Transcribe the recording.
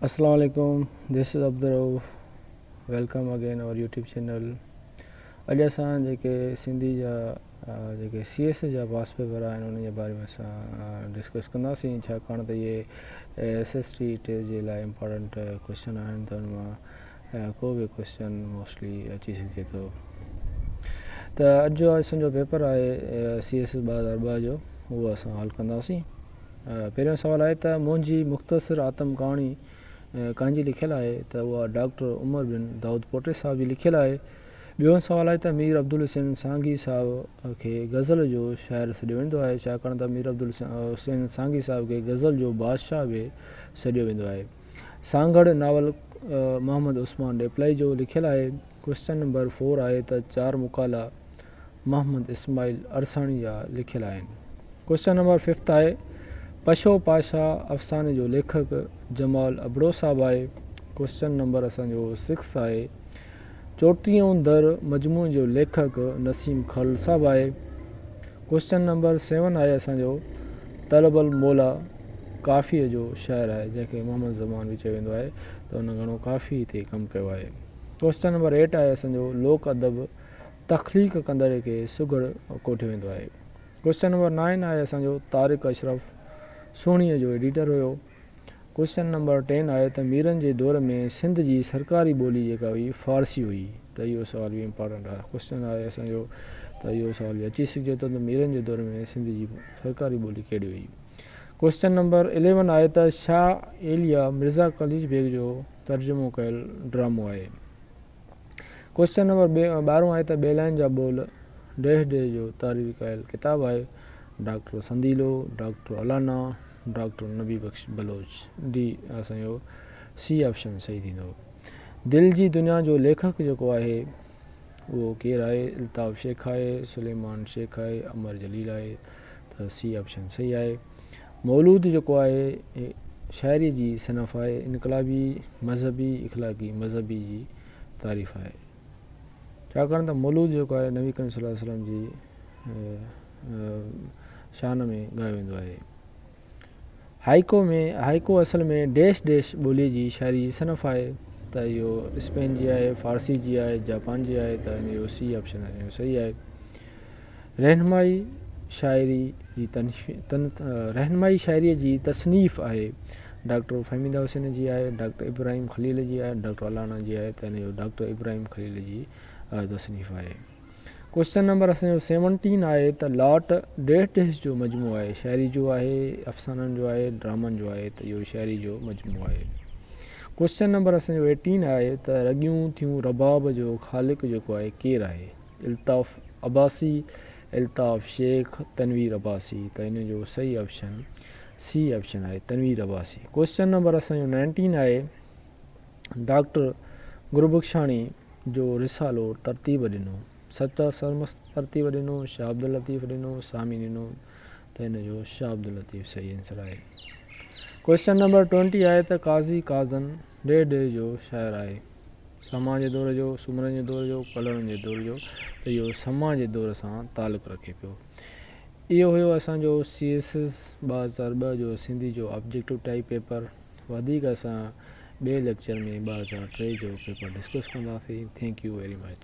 اسلام عليڪم this is Abdul Rauf welcome again our YouTube channel اڄ اسان جيڪي سنڌي جا جيڪي سي ايس جا واس پيپر آهن ان جي باري ۾ اسان ڊسڪس ڪنداسين ڇاڪاڻ ته اهي ايس ايس ٽي ٽي جي لاء امپورٽنٽ ڪوشچن آهن ته ان مان ڪو به ڪويسچن موسٽلي اچي سگهجي ٿو ته اڄ جو اسنجو پيپر آهي سي ايس ايس ٻه هزار ٻه جو اهو اسان حل ڪنداسين پهريون سوال آهي ته منهنجي مختصر آتم ڪهاڻي ڪانجي لکيل آهي ته اها ڊاڪٽر عمر بن داود پوٽي صاحب جي لکيل آهي ٻيو سوال آهي ته مير عبدالحسين سانگي صاحب کي غزل جو شاعر سڏيو ويندو آهي ڇاڪاڻ ته مير عبدالحسين سانگي صاحب کي غزل جو بادشاهه به سڏيو ويندو آهي سانگهڙ ناول محمد عثمان ڏيپلائي جو لکيل آهي. ڪوئسچن نمبر فور آهي ته چار مقالا محمد اسماعيل عرساڻي جا لکيل آهن. ڪوئسچن نمبر ففٿ آهي پشو پاشا افساني جو ليکڪ جمال ابڙو صاحب آهي. ڪوئسچن نمبر اسان جو سڪس آهي. چوٽيهون در مجموعي جو ليکڪ نسيم خل صاحب آهي. ڪوئسچن نمبر سيون آهي اسان جو طلب الموليٰ ڪافيء جو شاعر آهي جنهن کي محمد زمان به چيو ويندو آهي ته هن گهڻو ڪافيء تي ڪم ڪيو آهي. ڪوئسچن نمبر ايٽ آهي اسان جو لوڪ ادب تخليق ڪندڙ کي سگهڙ ڪوٺيو ويندو آهي. ڪوئسچن نمبر نائين آهي اسان جو طارق اشرف سهڻيء جو ايڊيٽر هيو. ڪوئسچن نمبر ٽين آهي ته ميرن جي دور ۾ سنڌ جي سرڪاري ٻولي جيڪا هئي فارسي هئي ته اهو سوال به امپارٽنٽ آهي ڪوئسچن آهي اسان جو ته اهو سوال به اچي سگهجي ٿو ته ميرن جي دور ۾ سنڌ جي سرڪاري ٻولي ڪهڙي هئي ڪوئسچن نمبر اليون آهي ته شاهه ايليا مرزا قليچ بيگ جو ترجمو ڪيل ڊرامو آهي ڪوئسچن نمبر ٻارهون آهي ته ٻيلائن جا ٻول ڊيهه ڊيهه جو تارير ڪيل ڪتاب آهي doctor Sandilo doctor Allana doctor Nabi Bakhsh Baloch, ڊي، اسان جو سي آپشن صحيح ٿيندو. دل جي دنيا جو ليکڪ جيڪو آهي اهو ڪير آهي؟ الطاف شيخ آهي، سليمان شيخ آهي، امر جليل آهي ته سي آپشن صحيح آهي. مولود جيڪو آهي هي شاعري جي صنف آهي، انقلابي، مذهبي، اخلاقي، مذهبي جي تعريف آهي. ڇاڪاڻ ته مولود جيڪو آهي نبي ڪريم صلي الله عليه وسلم جي شان ۾ ڳايو ويندو آهي. هائيڪو ۾ هائيڪو اصل ۾ ڊيش ڊيش ٻوليء جي شاعري جي صنف آهي ته اهو اسپين جي آهي، فارسي جي آهي، جاپان جي آهي ته ان جو سي آپشن اهو صحيح آهي. رهنمائي شاعري جي رهنمائي شاعريء جي تصنيف آهي. ڊاڪٽر فهميده حسين جي آهي، ڊاڪٽر ابراهيم خليل جي آهي، ڊاڪٽر الانا جي آهي ته هن جو ڊاڪٽر ابراهيم خليل جي تصنيف آهي. ڪوشچن نمبر اسان جو سيونٽين آهي ته لاٽ ڊيهه ڊيهس جو مجموعو آهي، شاعري جو آهي، افسانن جو آهي، ڊرامن جو آهي ته اهو شاعري جو مجموعو آهي. ڪوشچن نمبر اسان جو ايٽين آهي ته رڳيون ٿيون رباب جو خالق جيڪو آهي ڪير آهي؟ الطاف عباسي، الطاف شيخ، تنوير عباسي ته ان جو صحيح آپشن سي آپشن آهي تنوير عباسي. ڪوئسچن نمبر اسان جو نائنٽين آهي ڊاڪٽر گربخشاڻي جو رسالو ترتيب ڏنو سچا سرمست ترتيب ڏنو شاهه عبداللطيف ڏنو سامي ڏنو ته ان جو شاهه عبداللطيف صحيح آنسر آهي. ڪوئسچن نمبر ٽوئنٽي آهي ته قاضي قاضن ڊيهه ڊيهه جو شاعر آهي. سماء جي دور جو، سومرن جي دور جو، ڪلهوڙن جي دور جو ته اهو سماء جي دور سان تعلق رکي پيو. اهو هيو اسان جو سي ايس ايس ٻه هزار ٻه جو سنڌي جو آبجيڪٽو ٽائيپ پيپر. وڌيڪ اسان ٻئي ليڪچر ۾ ٻه هزار ٽي جو پيپر ڊسڪس ڪنداسين. Thank you very much.